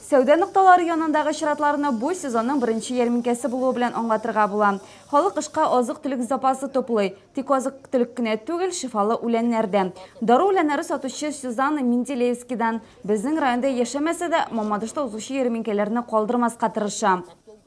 Сәүдә нокталары янындагы чиратларны бу сезонның беренче ярминкәсе булуы белән аңлатырга була. Халык кышка азык-төлек запасы туплый. Тик азык-төлек кенә түгел, шифалы үләннәр дә. Дару үләннәре сатучы Сюзанна Менделеевскидан, безнең районда яшәмәсә дә, Мамадышта узучы ярминкәләрне калдырмаска тырыша.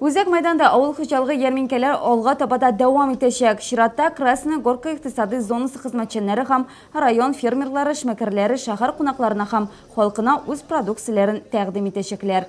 Үзәк мәйданда авыл хуҗалыгы ярминкәләр алга таба да дәвам итәчәк. Чиратта Красная Горка икътисадый зонасы хезмәтчәннәре һәм район фермерлары эшмәкәрләре шәһәр кунакларына һәм халкына үз продукцияләрен тәкъдим итәчәкләр.